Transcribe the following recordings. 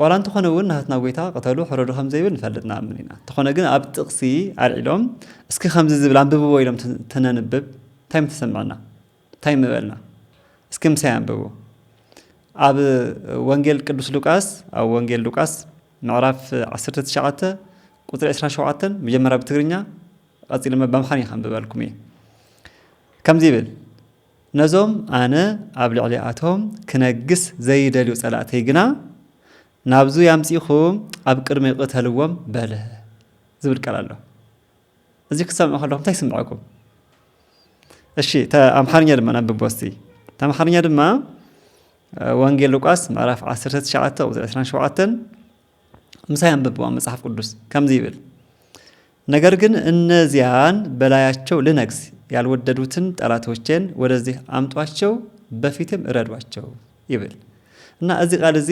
ዋላ እንተኾነ እውን ናህትና ጎይታ ቅተሉ ሕረዱ ከም ዘይብል ንፈልጥ ንኣምን ኢና። እንተኾነ ግን ኣብ ጥቕሲ ኣልዒሎም እስኪ ከምዚ ዝብል ኣንብብዎ ኢሎም ተነንብብ እንታይ ምተሰምዐና? እንታይ ምበልና? እስኪ ምሳይ ኣንብቡ። ኣብ ወንጌል ቅዱስ ሉቃስ ኣብ ወንጌል ሉቃስ ምዕራፍ 19 ቁፅሪ 27 መጀመሪያ ብትግርኛ ቀፂሉ በምኻን ይኸንብበልኩም እየ ከምዚ ይብል ነዞም ኣነ ኣብ ልዕሊኣቶም ክነግስ ዘይደልዩ ጸላእተይ ግና፣ ናብዙይ ኣምጺእኩም ኣብ ቅድመይ ቕተልዎም በለ ዝብል ቃል ኣሎ። እዙይ ክትሰምዑ ከለኹም እንታይ ይስምዐኩም? እሺ ኣምሓርኛ ድማ ነብቦ እስቲ። ኣምሓርኛ ድማ ወንጌል ሉቃስ ምዕራፍ 19 ቁጽሪ 27 ምሳይ ኣንብብዋ መጽሓፍ ቅዱስ ከምዚ ይብል ነገር ግን እነዚያን በላያቸው ልነግስ ያልወደዱትን ጠላቶቼን ወደዚህ አምጧቸው በፊትም እረዷቸው ይብል እና እዚ ቃል እዚ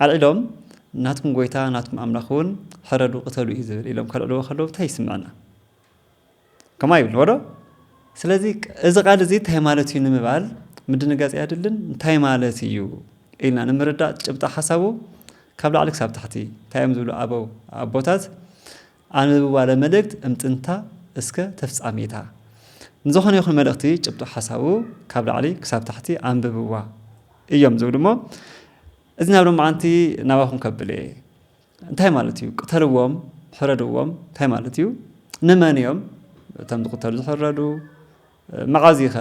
ኣልዒሎም ናትኩም ጎይታ ናትኩም ኣምላኽ እውን ሕረዱ ቅተሉ እዩ ዝብል ኢሎም ከልዕልዎ ከለዉ እንታይ ይስምዐና? ከምኡ ኣይብልዎዶ ስለዚ እዚ ቃል እዚ እንታይ ማለት እዩ ንምባል ምድንጋጽ ኣየድልን እንታይ ማለት እዩ ኢልና ንምርዳእ ጭብጣ ሓሳቡ ካብ ላዕሊ ክሳብ ታሕቲ እንታይ እዮም ዝብሉ ኣበው ኣቦታት ኣንብብዋ ለመልእክት እምጥንታ እስከ ተፍጻሜታ ንዝኾነ ይኹን መልእኽቲ ጭብጡ ሓሳቡ ካብ ላዕሊ ክሳብ ታሕቲ ኣንብብዋ እዮም ዝብሉ እሞ እዚ ናብ ሎማዓንቲ ናባኹም ከብለ እየ እንታይ ማለት እዩ ቅተልዎም ሕረድዎም እንታይ ማለት እዩ ንመን እዮም እቶም ዝቕተሉ ዝሕረዱ መዓዝ ኸ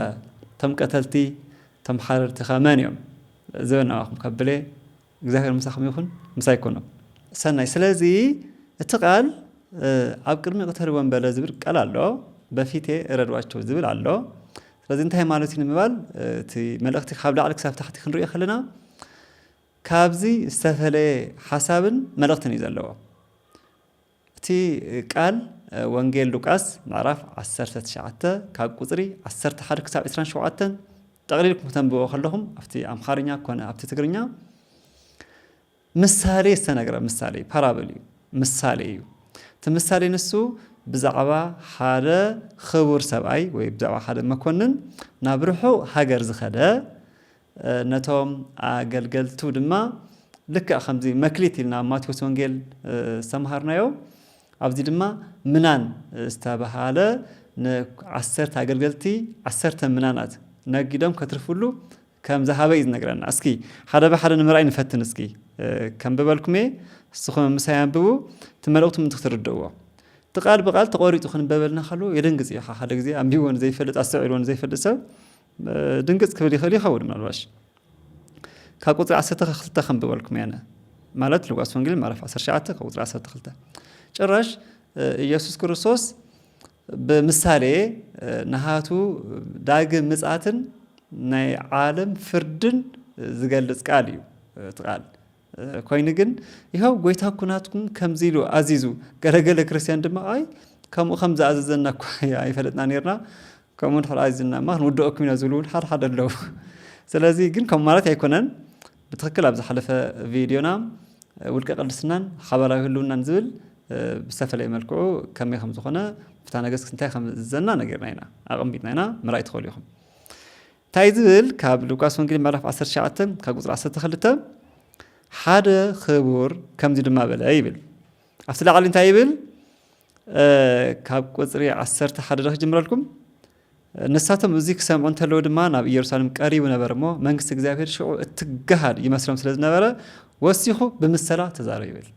እቶም ቀተልቲ እቶም ሓረድቲ ኸ መን እዮም ዝበን ኣዋኹም ከብለ እግዚኣብሔር ምሳኹም ይኹን ምሳይ ኩኑ ሰናይ ስለዚ እቲ ቃል ኣብ ቅድሚ ቅተልዎም በለ ዝብል ቃል ኣሎ በፊቴ እረድዋቸው ዝብል ኣሎ ስለዚ እንታይ ማለት እዩ ንምባል እቲ መልእኽቲ ካብ ላዕሊ ክሳብ ታሕቲ ክንሪኦ ከለና ካብዚ ዝተፈለየ ሓሳብን መልእኽትን እዩ ዘለዎ። እቲ ቃል ወንጌል ሉቃስ ምዕራፍ ዓሰርተ ትሽዓተ ካብ ቁጽሪ ዓሰርተ ሓደ ክሳብ ዕስራን ሸውዓተን ጠቕሊልኩም ክተንብቦ ከለኹም ኣብቲ ኣምሓርኛ ኮነ ኣብቲ ትግርኛ ምሳሌ ዝተነግረ ምሳሌ ፓራብል እዩ ምሳሌ እዩ እቲ ምሳሌ ንሱ ብዛዕባ ሓደ ክቡር ሰብኣይ ወይ ብዛዕባ ሓደ መኮንን ናብ ርሑቕ ሃገር ዝኸደ ነቶም ኣገልገልቱ ድማ ልክዕ ከምዚ መክሊት ኢልና ኣብ ማቴዎስ ወንጌል ዝተምሃርናዮ ኣብዚ ድማ ምናን ዝተባሃለ ንዓሰርተ ኣገልገልቲ ዓሰርተ ምናናት ነጊዶም ከትርፍሉ ከም ዝሃበ እዩ ዝነግረና። እስኪ ሓደ ብሓደ ንምርኣይ ንፈትን። እስኪ ከምብበልኩም እየ፣ ንስኹም ምሳይ ኣንብቡ፣ እቲ መልእኽቱ ምንቲ ክትርድእዎ እቲ ቃል ብቃል ተቖሪፁ ክንበበልና ከለዎ የደንግፅ እዩ። ሓደ ግዜ ኣንቢቦ ንዘይፈልጥ ኣስተውዒልዎ ንዘይፈልጥ ሰብ ድንግጽ ክብል ይኽእል ይኸውን ምናልባሽ ካብ ቁጽሪ ዓሰርተ ካብ ክልተ ከንብበልኩም እየ ኣነ ማለት ሉቃስ ወንጌል ምዕራፍ 19 ካብ ቁጽሪ 12 ጭራሽ ኢየሱስ ክርስቶስ ብምሳሌ ንሃቱ ዳግም ምጽኣትን ናይ ዓለም ፍርድን ዝገልጽ ቃል እዩ እቲ ቃል ኰይኑ ግን፣ የሆዋ ጐይታ ኵናትኩም ከምዚ ኢሉ ኣዚዙ። ገለ ገለ ክርስትያን ድማ ኣይ ከምኡ ከም ዝኣዘዘና እኳ ኣይፈለጥናን ኔርና፣ ከምኡ እንድሕር ኣዚዙና እማ ክንውድኣኩም ኢና ዝብሉ እውን ሓደ ሓደ ኣለዉ። ስለዚ ግን ከምኡ ማለት ኣይኰነን። ብትኽክል ኣብ ዝሓለፈ ቪድዮና ውልቀ ቅድስናን ሓባራዊ ህልውናን ዝብል ብዝተፈለየ መልክዑ ከመይ ከም ዝዀነ ፍትሐ ነገሥት እንታይ ከም ዝእዝዘና ነጊርና ኢና ኣቐሚጥና ኢና ምርኣይ ትኽእሉ ኢኹም። ታይ ዝብል ካብ ሉቃስ ወንጌል ምዕራፍ ዓሰርተ ትሽዓተ ካብ ቁፅሪ ዓሰርተ ክልተ ሓደ ኽቡር ከምዚ ድማ በለ ይብል ኣብቲ ላዕሊ እንታይ ይብል ካብ ቁፅሪ ዓሰርተ ሓደ ዶ ክጅምረልኩም ንሳቶም እዚ ክሰምዑ እንተለዉ ድማ ናብ ኢየሩሳሌም ቀሪቡ ነበር እሞ መንግስቲ እግዚኣብሔር ሽዑ እትገሃል ይመስሎም ስለ ዝነበረ ወሲኹ ብምሰላ ተዛረብ ይብል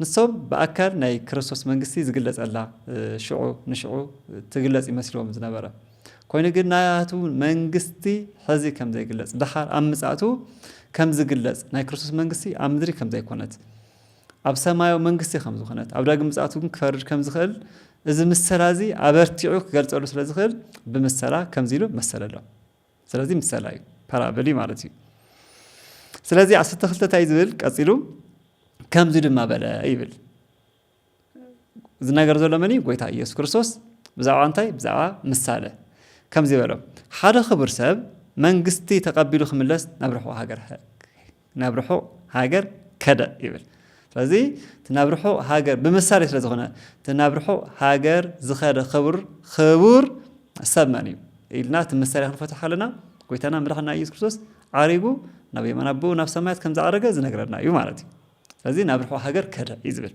ንሶም ብኣካል ናይ ክርስቶስ መንግስቲ ዝግለጸላ ሽዑ ንሽዑ ትግለጽ ይመስልዎም ዝነበረ። ኮይኑ ግን ናቱ መንግስቲ ሕዚ ከም ዘይግለጽ፣ ደሓር ኣብ ምጽኣቱ ከም ዝግለጽ፣ ናይ ክርስቶስ መንግስቲ ኣብ ምድሪ ከም ዘይኮነት፣ ኣብ ሰማያዊ መንግስቲ ከም ዝኾነት፣ ኣብ ዳግም ምጽኣቱ ግን ክፈርድ ከም ዝኽእል እዚ ምሰላ እዚ ኣበርቲዑ ክገልጸሉ ስለ ዝኽእል ብምሰላ ከምዚ ኢሉ መሰለሎም። ስለዚ ምሰላ እዩ ፓራብል እዩ ማለት እዩ ስለዚ ዓሰርተ ክልተ እንታይ ዝብል ቀፂሉ ከምዚ ድማ በለ ይብል ዝነገር ዘሎ መን እዩ ጎይታ ኢየሱስ ክርስቶስ ብዛዕባ እንታይ ብዛዕባ ምሳለ ከምዚ በሎም ሓደ ክቡር ሰብ መንግስቲ ተቐቢሉ ክምለስ ናብ ርሕዋ ሃገር ናብ ርሑቕ ሃገር ከደ ይብል። ስለዚ እቲ ናብ ርሑቕ ሃገር ብምሳሌ ስለ ዝኾነ እቲ ናብ ርሑቕ ሃገር ዝኸደ ክቡር ክቡር ሰብ መን እዩ ኢልና እቲ ምሳሌ ክንፈትሖ ከለና ጎይታና መድሓና ኢየሱስ ክርስቶስ ዓሪጉ ናብ የማን ኣቦኡ ናብ ሰማያት ከም ዝዓረገ ዝነግረና እዩ ማለት እዩ። ስለዚ ናብ ርሑቕ ሃገር ከደ እዩ ዝብል።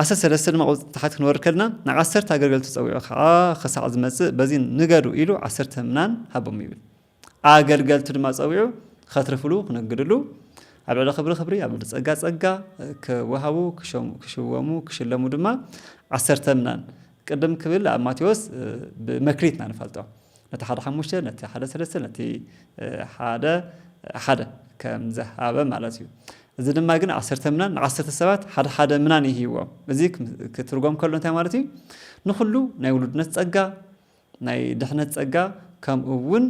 ዓሰርተ ሰለስተ ድማ ቁጽሪ ታሕቲ ክንወርድ ከልና ን ዓሰርተ ኣገልገልቱ ጸዊዑ ከኣ ክሳዕ ዝመጽእ በዚ ንገዱ ኢሉ ዓሰርተ ምናን ሃቦም ይብል። ኣገልገልቱ ድማ ጸዊዑ ከትርፍሉ ክነግድሉ ኣብ ልዕሊ ክብሪ ክብሪ ኣብ ልዕሊ ጸጋ ጸጋ ክወሃቡ ክሽወሙ ክሽለሙ ድማ ዓሰርተ ምናን ቅድም ክብል ኣብ ማቴዎስ ብመክሊት ኢና ንፈልጦ ነቲ ሓደ ሓሙሽተ፣ ነቲ ሓደ ሰለስተ፣ ነቲ ሓደ ሓደ ከም ዝሃበ ማለት እዩ። እዚ ድማ ግን ዓሰርተ ምናን ንዓሰርተ ሰባት ሓደ ሓደ ምናን ይህይዎም። እዚ ክትርጎም ከሎ እንታይ ማለት እዩ? ንኹሉ ናይ ውሉድነት ጸጋ፣ ናይ ድሕነት ጸጋ ከምኡ እውን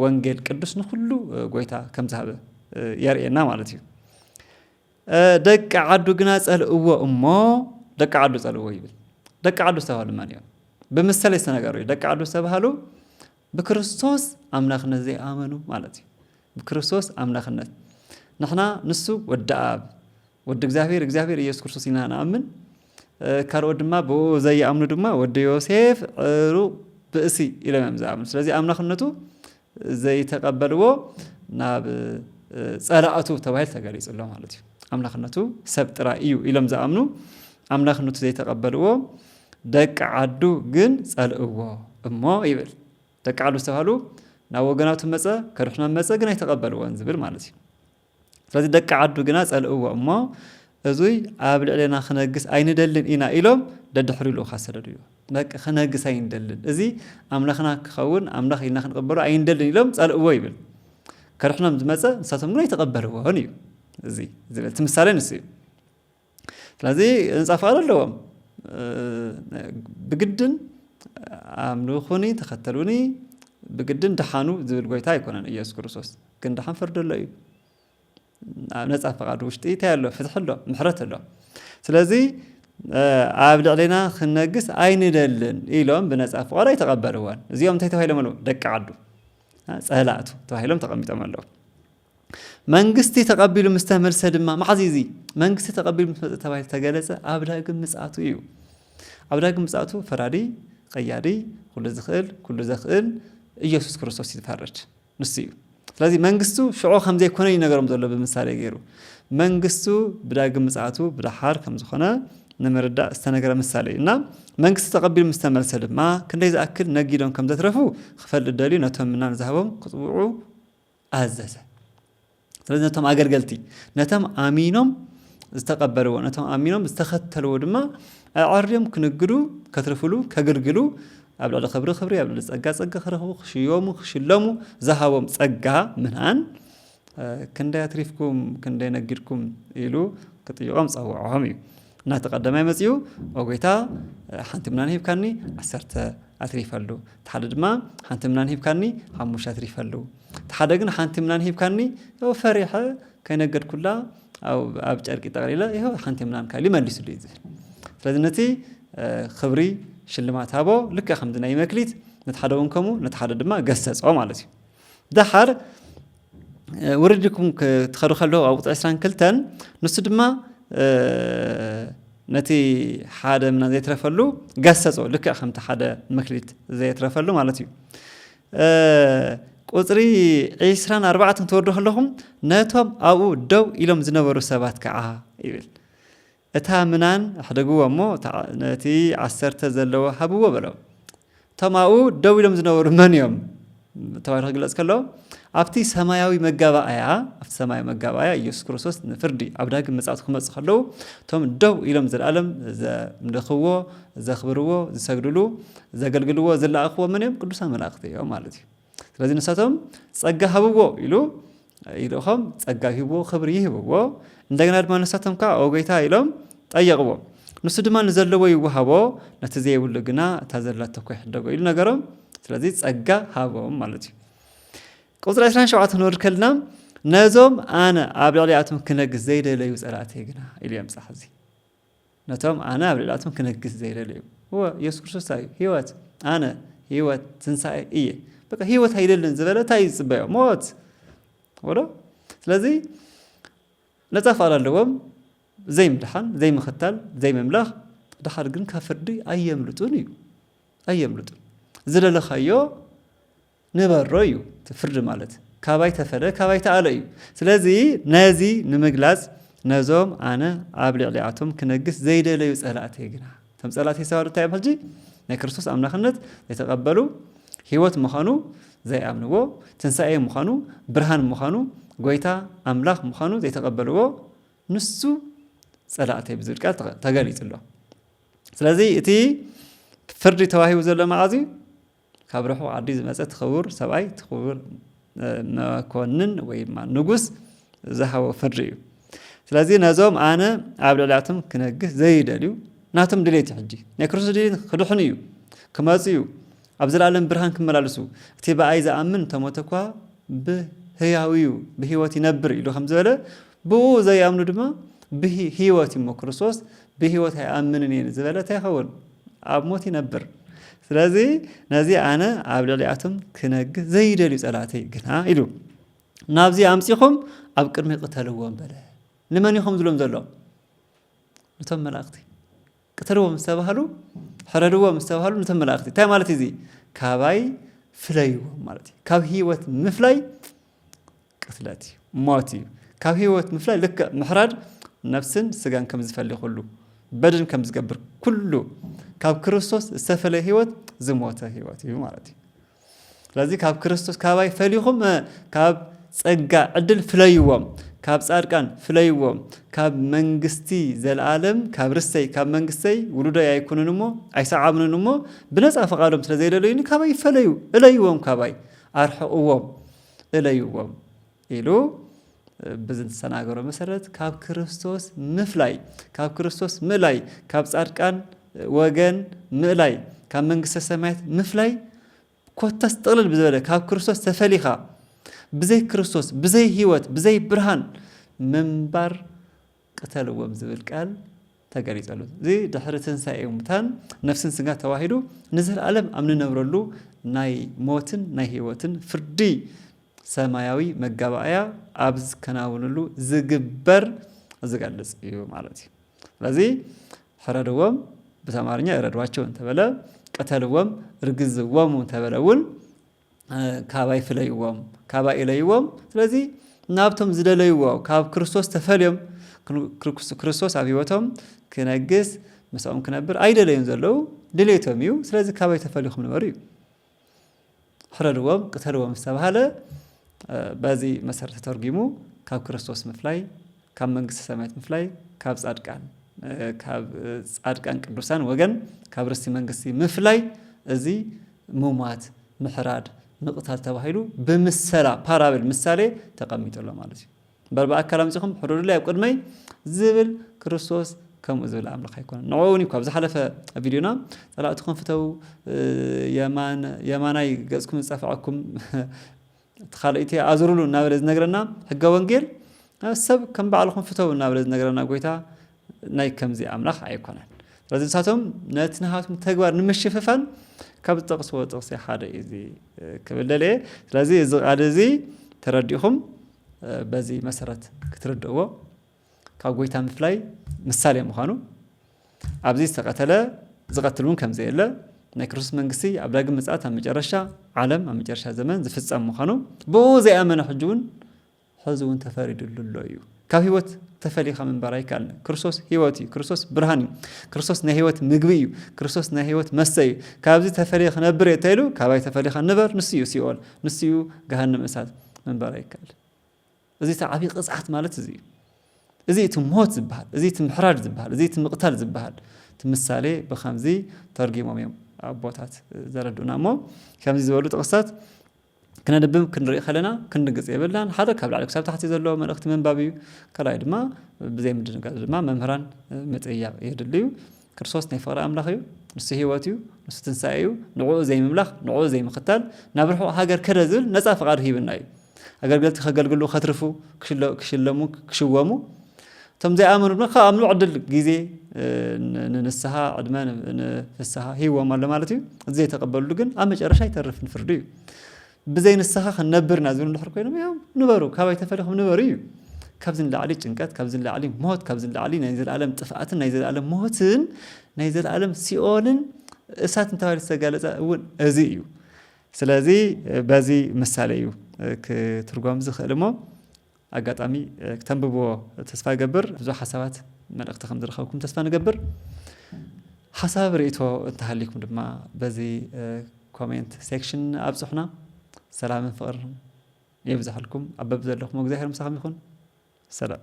ወንጌል ቅዱስ ንኹሉ ጎይታ ከም ዝሃበ የርእየና ማለት እዩ። ደቂ ዓዱ ግና ጸልእዎ እሞ ደቂ ዓዱ ጸልእዎ ይብል። ደቂ ዓዱ ዝተባህሉ መን እዮም? ብምሰለይ ዝተነገሩ እዩ። ደቂ ዓዱ ዝተባህሉ ብክርስቶስ ኣምላኽነት ዘይኣመኑ ማለት እዩ። ብክርስቶስ ኣምላኽነት ንሕና ንሱ ወዲ ኣብ ወዲ እግዚኣብሔር እግዚኣብሔር ኢየሱስ ክርስቶስ ኢና ንኣምን። ካልኦት ድማ ብኡ ዘይኣምኑ ድማ ወዲ ዮሴፍ ዕሩቕ ብእሲ ኢሎም እዮም ዝኣምኑ። ስለዚ ኣምላኽነቱ ዘይተቀበልዎ ናብ ጸላእቱ ተባሂሉ ተገሊጹ ኣሎ ማለት እዩ። ኣምላኽነቱ ሰብ ጥራይ እዩ ኢሎም ዝኣምኑ ኣምላኽነቱ ዘይተቀበልዎ ደቂ ዓዱ ግን ጸልእዎ እሞ ይብል ደቂ ዓዱ ዝተባህሉ ናብ ወገናቱ መጸ ከድሕኖም መጸ ግን ኣይተቀበልዎን ዝብል ማለት እዩ። ስለዚ ደቂ ዓዱ ግና ጸልእዎ እሞ እዙይ ኣብ ልዕሌና ክነግስ ኣይንደልን ኢና ኢሎም ደድሕሪኡ ልኡኻት ሰደዱዮ። በቃ ክነግስ ኣይንደልን፣ እዚ ኣምላኽና ክኸውን ኣምላኽ ኢልና ክንቕበሎ ኣይንደልን ኢሎም ጸልእዎ ይብል። ከድሕኖም ዝመጸ ንሳቶም ግን ኣይተቐበልዎን እዩ እዚ ዝብል እቲ ምሳሌ ንሱ እዩ። ስለዚ ህንፃ ፍቓድ ኣለዎም ብግድን ኣምልኹኒ ተኸተሉኒ ብግድን ደሓኑ ዝብል ጎይታ ኣይኮነን ኢየሱስ ክርስቶስ ግን ደሓን ፍርዲ ኣሎ እዩ ኣብ ነፃ ፍቓድ ውሽጢ እንታይ ኣሎ ፍትሒ ኣሎ ምሕረት ኣሎ ስለዚ ኣብ ልዕሌና ክነግስ ኣይንደልን ኢሎም ብነፃ ፍቓድ ኣይተቐበልዎን እዚኦም እንታይ ተባሂሎም ኣለዉ ደቂ ዓዱ ፀላእቱ ተባሂሎም ተቐሚጦም ኣለዉ መንግስቲ ተቐቢሉ ምስ ተመልሰ ድማ፣ መዓዝ እዩ እዚ መንግስቲ ተቐቢሉ ምስ መጸ ተባሂሉ ዝተገለጸ? ኣብ ዳግም ምጽኣቱ እዩ። ኣብ ዳግም ምጽኣቱ ፈራዲ፣ ቀያዲ፣ ኩሉ ዝኽእል፣ ኩሉ ዘኽእል ኢየሱስ ክርስቶስ እዩ ዝፈርድ። ንሱ እዩ። ስለዚ መንግስቱ ሽዑ ከም ዘይኮነ እዩ ነገሮም ዘሎ ብምሳሌ ገይሩ። መንግስቱ ብዳግም ምጽኣቱ ብደሓር ከም ዝኾነ ንምርዳእ ዝተነገረ ምሳሌ እዩ እና መንግስቲ ተቐቢሉ ምስ ተመልሰ ድማ ክንደይ ዝኣክል ነጊዶም ከም ዘትረፉ ክፈልጥ ደልዩ ነቶም ምናን ዝሃቦም ክጽውዑ ኣዘዘ። ስለዚ ነቶም ኣገልገልቲ ነቶም ኣሚኖም ዝተቐበልዎ ነቶም ኣሚኖም ዝተኸተልዎ ድማ ኣዐርዮም ክንግዱ ከትርፍሉ ከግልግሉ ኣብ ልዕሊ ክብሪ ክብሪ ኣብ ልዕሊ ጸጋ ጸጋ ክረኽቡ ክሽየሙ ክሽለሙ ዝሃቦም ጸጋ ምንኣን ክንደይ ኣትሪፍኩም ክንደይ ነጊድኩም ኢሉ ክጥይቖም ጸውዖም እዩ ናቲ ቀዳማይ መጺኡ ኦ ጎይታ ሓንቲ ምናን ሂብካኒ ዓሰርተ ኣትሪፈሉ እቲ ሓደ ድማ ሓንቲ ምናን ሂብካኒ ሓሙሽተ ኣትሪፈሉ እቲ ሓደ ግን ሓንቲ ምናን ሂብካኒ ፈሪሐ ከይነገድኩላ ኣብ ጨርቂ ጠቕሊለ ይኸው ሓንቲ ምናን ካሊ መሊስሉ እዩ ዝብል ስለዚ ነቲ ክብሪ ሽልማት ሃቦ ልክዕ ከምዚ ናይ መክሊት ነቲ ሓደ እውን ከምኡ ነቲ ሓደ ድማ ገሰጾ ማለት እዩ ደሓር ውርድ ኢልኩም ክትኸዱ ከለኹ ኣብ ቁፅሪ ዕስራን ክልተን ንሱ ድማ ነቲ ሓደ ምና ዘይትረፈሉ ገሰጾ ልክዕ ከምቲ ሓደ መክሊት ዘየትረፈሉ ማለት እዩ ቁፅሪ ዒስራን ኣርባዕተን ክትወርዱ ከለኹም ነቶም ኣብኡ ደው ኢሎም ዝነበሩ ሰባት ከዓ ይብል እታ ምናን ኣሕደግዎ እሞ ነቲ ዓሰርተ ዘለዎ ሃብዎ በሎም። እቶም ኣብኡ ደው ኢሎም ዝነበሩ መን እዮም ተባሂሉ ክግለጽ ከሎ ኣብቲ ሰማያዊ መጋባእያ ኣብቲ ሰማያዊ መጋባእያ ኢየሱስ ክርስቶስ ንፍርዲ ኣብ ዳግም ምጽኣቱ ክመጽእ ከለዉ እቶም ደው ኢሎም ዘለኣለም ዘምልኽዎ ዘኽብርዎ ዝሰግድሉ ዘገልግልዎ ዝለኣኽዎ መን እዮም ቅዱሳን መላእኽቲ እዮም ማለት እዩ ስለዚ ንሳቶም ጸጋ ሃብዎ ኢሉ ይልእኾም፣ ጸጋ ይህብዎ፣ ክብሪ ይህብዎ። እንደገና ድማ ንሳቶም ከዓ ኦ ጐይታ ኢሎም ጠየቕዎ። ንሱ ድማ ንዘለዎ ይወሃቦ፣ ነቲ ዘይብሉ ግና እታ ዘላቶ እኳ ይሕደጎ ኢሉ ነገሮም። ስለዚ ጸጋ ሃቦም ማለት እዩ። ቁጽሪ 27 ክንወርድ ከልና ነዞም ኣነ ኣብ ልዕሊኣቶም ክነግስ ዘይደለዩ ጸላእተይ ግና ኢሉ የምጽእ። ሕዚ ነቶም ኣነ ኣብ ልዕሊኣቶም ክነግስ ዘይደለዩ እወ ኢየሱስ ክርስቶስ እንታይ እዩ ህይወት ኣነ ህይወት ትንሳኤ እየ በቃ ህይወት ኣይደልን ዝበለ እንታይ እዩ ዝፅበዮ ሞት ወዶ ስለዚ ነፃ ፍቓድ ኣለዎም ዘይምድሓን ዘይምኽታል ዘይምምላኽ ድሓር ግን ካብ ፍርዲ ኣየምልጡን እዩ ኣየምልጡን ዝደለኻዮ ንበሮ እዩ እቲ ፍርዲ ማለት ካባይ ተፈለ ካባይ ተኣለ እዩ ስለዚ ነዚ ንምግላጽ ነዞም ኣነ ኣብ ልዕሊኣቶም ክነግስ ዘይደለዩ ጸላእተይ ግና እቶም ጸላእተይ ዝተባህሉ እንታይ እዮም ሕጂ ናይ ክርስቶስ ኣምላኽነት ዘይተቐበሉ ህይወት ምዃኑ ዘይኣምንዎ ትንሳኤ ምዃኑ ብርሃን ምዃኑ ጎይታ ኣምላኽ ምዃኑ ዘይተቐበልዎ ንሱ ጸላእተይ ብዝብል ቃል ተገሊጹ ኣሎ ስለዚ እቲ ፍርዲ ተዋሂቡ ዘሎ መዓዝ እዩ ካብ ርሑቕ ዓዲ ዝመጸ እቲ ክቡር ሰብኣይ እቲ ክቡር መኮንን ወይ ድማ ንጉስ ዝሃቦ ፍርዲ እዩ። ስለዚ ነዞም ኣነ ኣብ ልዕሊያቶም ክነግስ ዘይደልዩ ናቶም ድሌት እዩ ሕጂ ናይ ክርስቶስ ድሌት ክድሕኑ እዩ ክመጹ እዩ ኣብ ዘላለም ብርሃን ክመላለሱ እቲ ብኣይ ዝኣምን ተሞተ እኳ ብህያው እዩ ብህይወት ይነብር ኢሉ ከም ዝበለ ብኡ ዘይኣምኑ ድማ ብህይወት እሞ ክርስቶስ ብህይወት ኣይኣምንን እየ ዝበለ እንታይ ይኸውን? ኣብ ሞት ይነብር። ስለዚ ነዚ ኣነ ኣብ ልዕሊኣቶም ክነግስ ዘይደልዩ ጸላእተይ ግና ኢሉ ናብዚ ኣምጺኹም ኣብ ቅድሚ ቅተልዎም በለ። ንመን እዩ ከም ዝሎም ዘሎ? ነቶም መላእኽቲ ቅተልዎም ምስ ተባህሉ ሕረድዎም ምስ ተባህሉ ነቶም መላእኽቲ እንታይ ማለት እዩ እዚ? ካባይ ፍለይዎም ማለት እዩ። ካብ ህይወት ምፍላይ ቅትለት እዩ ሞት እዩ ካብ ህይወት ምፍላይ ልክዕ ምሕራድ ነፍስን ስጋን ከም ዝፈሊ ኩሉ በድን ከም ዝገብር ኩሉ ካብ ክርስቶስ ዝተፈለየ ህይወት ዝሞተ ህይወት እዩ ማለት እዩ ስለዚ ካብ ክርስቶስ ካባይ ፈሊኹም ካብ ጸጋ ዕድል ፍለይዎም ካብ ጻድቃን ፍለይዎም ካብ መንግስቲ ዘለዓለም ካብ ርሰይ ካብ መንግስተይ ውሉደይ ኣይኩንን እሞ ኣይሰዓብንን እሞ ብነፃ ፈቓዶም ስለ ዘይደለዩኒ ካባይ ይፈለዩ እለይዎም ካባይ ኣርሕቕዎም እለይዎም ኢሉ ብዚ ዝተናገሮ መሰረት ካብ ክርስቶስ ምፍላይ ካብ ክርስቶስ ምእላይ ካብ ጻድቃን ወገን ምእላይ ካብ መንግስተ ሰማያት ምፍላይ ኮታስ ጥቕልል ብዝበለ ካብ ክርስቶስ ተፈሊኻ ብዘይ ክርስቶስ ብዘይ ህይወት ብዘይ ብርሃን ምንባር ቅተልዎም ዝብል ቃል ተገሊጹ ኣሎ። እዚ ድሕሪ ትንሳኤ ሙታን ነፍስን ስጋን ተዋሂዱ ንዘለኣለም ኣብ ንነብረሉ ናይ ሞትን ናይ ህይወትን ፍርዲ ሰማያዊ መጋባእያ ኣብ ዝከናውንሉ ዝግበር ዝገልጽ እዩ ማለት እዩ። ስለዚ ፍረድዎም ብተማርኛ እረዷቸው እንተበለ ቅተልዎም ርግዝዎሙ እንተበለ እውን ካባይ ፍለይዎም ካባይ እለይዎም ስለዚ ናብቶም ዝደለይዎ ካብ ክርስቶስ ተፈልዮም ክርስቶስ ኣብ ህይወቶም ክነግስ ምስኦም ክነብር ኣይደለዩን ዘለዉ ድሌቶም እዩ ስለዚ ካባይ ተፈልኹም ንበሩ እዩ ሕረድዎም ቅተልዎም ዝተባሃለ በዚ መሰረት ተተርጒሙ ካብ ክርስቶስ ምፍላይ ካብ መንግስተ ሰማያት ምፍላይ ካብ ጻድቃን ካብ ጻድቃን ቅዱሳን ወገን ካብ ርስቲ መንግስቲ ምፍላይ እዚ ምሟት ምሕራድ ምቕታል ተባሂሉ ብምሰላ ፓራብል ምሳሌ ተቐሚጡ ኣሎ ማለት እዩ እምበር ብኣካል ኣምጺኹም ሕረዱለይ ኣብ ቅድመይ ዝብል ክርስቶስ ከምኡ ዝብል ኣምላኽ ኣይኮነን ንዕኡ እውን እዩ ካብ ዝሓለፈ ቪድዮና ጸላእትኹም ፍተው የማናይ ገጽኩም ዝጸፍዐኩም እቲ ካልእቲ ኣዙሩሉ እናበለ ዝነግረና ሕገ ወንጌል ሰብ ከም ባዕልኹም ፍተው እናበለ ዝነግረና ጎይታ ናይ ከምዚ ኣምላኽ ኣይኮነን። ስለዚ ንሳቶም ነቲ ናሃቶም ተግባር ንምሽፍፋን ካብ ዝጠቕስዎ ጥቕሲ ሓደ እዩ እዚ ክብል ደልየ። ስለዚ እዚ ቃል እዚ ተረዲእኹም በዚ መሰረት ክትርድእዎ ካብ ጎይታ ምፍላይ ምሳሌ ምዃኑ፣ ኣብዚ ዝተቐተለ ዝቐትል እውን ከም ዘየለ፣ ናይ ክርስቶስ መንግስቲ ኣብ ዳግም ምጽኣት ኣብ መጨረሻ ዓለም ኣብ መጨረሻ ዘመን ዝፍጸም ምዃኑ ብኡ ዘይኣመነ ሕጂ እውን ሕዚ እውን ተፈሪድሉ ኣሎ እዩ። ካብ ህይወት ተፈሊኻ ምንባር ኣይከኣልን። ክርስቶስ ህይወት እዩ። ክርስቶስ ብርሃን እዩ። ክርስቶስ ናይ ህይወት ምግቢ እዩ። ክርስቶስ ናይ ህይወት መስተ እዩ። ካብዚ ተፈልየ ክነብር እየ እንተኢሉ ካባይ ተፈሊኻ ንበር ንሱ እዩ ሲኦል፣ ንሱ እዩ ገሃነመ እሳት። ምንባር ኣይከኣልን። እዚ እቲ ዓብዪ ቅፅዓት ማለት እዚ እዩ። እዚ እቲ ሞት ዝበሃል፣ እዚ እቲ ምሕራድ ዝበሃል፣ እዚ እቲ ምቕታል ዝበሃል እቲ ምሳሌ ብኸምዚ ተርጒሞም እዮም ኣቦታት ዘረድኡና እሞ ከምዚ ዝበሉ ጥቕስታት ክነንብብ ክንርኢ ከለና ክንድንግፅ የብልናን። ሓደ ካብ ላዕሊ ክሳብ ታሕቲ ዘሎ መልእኽቲ ምንባብ እዩ። ካልኣይ ድማ ብዘይ ምድንጋፅ ድማ መምህራን ምጥያቕ የድሊ እዩ። ክርስቶስ ናይ ፍቕሪ ኣምላኽ እዩ፣ ንሱ ህይወት እዩ፣ ንሱ ትንሳኤ እዩ፣ ንዕኡ ዘይምምላኽ፣ ንዕኡ ዘይምኽታል፣ ናብ ርሑቕ ሃገር ከደ ዝብል ነጻ ፍቓዱ ሂቡና እዩ። ኣገልገልቲ ከገልግሉ፣ ከትርፉ፣ ክሽለሙ፣ ክሽወሙ፣ እቶም ዘይኣመኑ ድማ ካብ ኣምልኡ ዕድል፣ ግዜ፣ ንንስሃ፣ ዕድመ ንፍስሃ ሂብዎም ኣሎ ማለት እዩ። እቲ ዘይተቐበልሉ ግን ኣብ መጨረሻ ይተርፍ ንፍርዲ እዩ። ብዘይ ንስኻ ክንነብር ኢና ዝብሉ እንድሕር ኮይኖም እዮም ንበሩ፣ ካባይ ተፈሊኹም ንበሩ እዩ። ካብዚ ንላዕሊ ጭንቀት፣ ካብዚ ንላዕሊ ሞት፣ ካብዚ ንላዕሊ ናይ ዘለኣለም ጥፍኣትን ናይ ዘለኣለም ሞትን ናይ ዘለኣለም ሲኦልን እሳት እንተባሂሉ ዝተጋለፀ እውን እዚ እዩ። ስለዚ በዚ ምሳሌ እዩ ክትርጎም ዝኽእል እሞ ኣጋጣሚ ክተንብብዎ ተስፋ ይገብር። ብዙሕ ሓሳባት መልእኽቲ ከም ዝረኸብኩም ተስፋ ንገብር። ሓሳብ ርእይቶ እንተሃልዩኩም ድማ በዚ ኮሜንት ሴክሽን ኣብጽሑና። ሰላምን ፍቕርን የብዝሓልኩም። ኣብ በብዘለኹሞ እግዚኣብሔር ምሳኹም ይኹን። ሰላም።